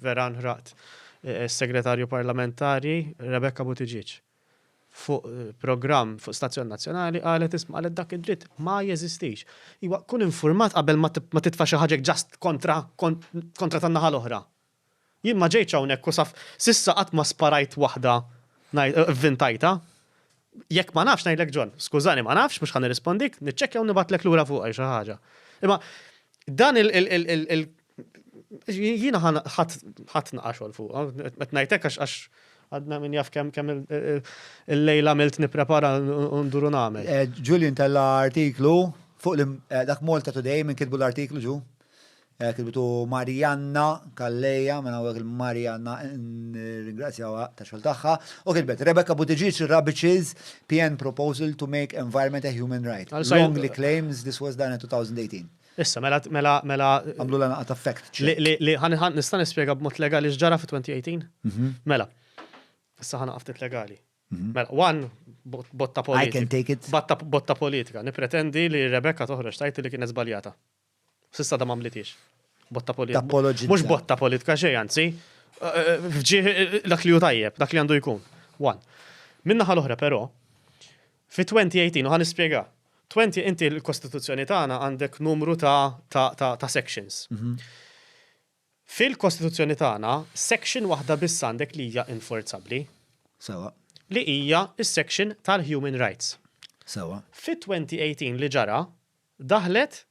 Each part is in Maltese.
Vera nħraqt is-Segretarju Parlamentari Rebecca Buttigieg fuq programm fuq stazzjon nazzjonali qalet isma' qalet dak id-dritt ma jeżistix. Iwa kun infurmat qabel ma titfa' xi ħaġa ġast kontra kontra tan-naħa l-oħra. Jien ma ġejtx hawnhekk u saf s'issa qatt ma sparajt waħda ngħid ivvintajtha. Jekk ma nafx ngħidlek John, skużani ma nafx, mhux ħa nirrispondik, niċċekkja u nibgħatlek lura fuqha jew xi ħaġa. Imma dan il jiena ħadd naqa' xogħol fuqha, qed ngħid hekk għax għadna min jaf kemm kemm il-lejl għamilt nipprepara u ndur u nagħmel. Julian tella' artiklu fuq dak Malta Today minn kitbu l-artiklu ġu. Hekk bidu Marianna Calleja, minn hawnhekk lil Marianna nirringrazzjawha tax-xogħol tagħha, u kitbet, Rebecca Buttigieg rubbiches PN proposal to make environment a human right, wrongly claims this was done in 2018. Issa, mela, mela, mela. Għamlulha naqgħa ta' fact check. Li, li, ħa, ħa, nista' nispjega b'mod legali x'ġara fit-2018? Mela, issa ħa naqa' ftit legali. Mela, one, botta politika. I can take it. Botta politika. Nippretendi li Rebecca toħroġ tgħid li kienet żbaljata. Sissa da mamlitiex. Botta politika. Mux botta politika xej, anzi. Fġieħ dak li ju tajjeb, dak li għandu jkun. One. Minna ħal oħra pero, fi 2018, uħan nispiega, 20 inti l-Kostituzzjoni tagħna għandek numru ta' sections. Mhm. Fil-Kostituzzjoni tagħna, section waħda biss għandek li hija inforzabbli. Sewwa. Li hija s-section tal-human rights. Sewwa. Fit-2018 li ġara, daħlet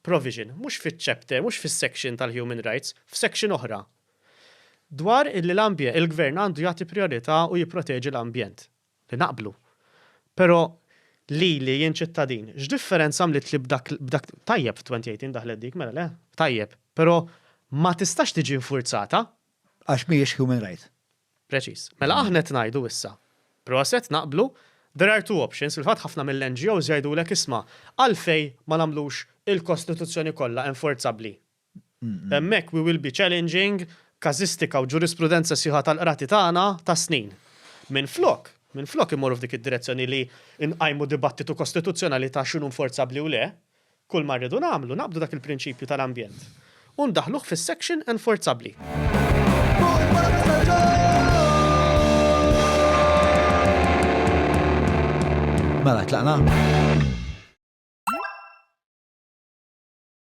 provision, mhux fiċ-chapter, mhux fis-section tal-human rights, f'section oħra, dwar illi l-ambje, il-gvern għandu jagħti prijorità u jipproteġi l-ambjent. li naqblu. Però lili jien ċittadin, x'differenza għamlitli b'dak b'dak tajjeb f'2018 daħlet dik, mela le, tajjeb, però ma tistax tiġi infurzata. Għax mhijiex human right. Preċiż. Mela aħna qed ngħidu issa, proset, naqblu, there are two options, fil-fatt ħafna mill-NGOs jgħidulek isma' għalfejn ma nagħmlux il-Kostituzzjoni kollha enforzabbli? Hemmhekk we will be challenging każistika u ġurisprudenza sħiħa tal-qrati tagħna tas-snin. Minflok, minflok immorru f'dik id-direzzjoni li nqajmu dibattitu kostituzzjonali ta' x'inhu inforzabbli u le, kull ma rridu nagħmlu naqbdu dak il-prinċipju tal-ambjent u ndaħħluh fis-section enforzabbli. Mela tlaqna?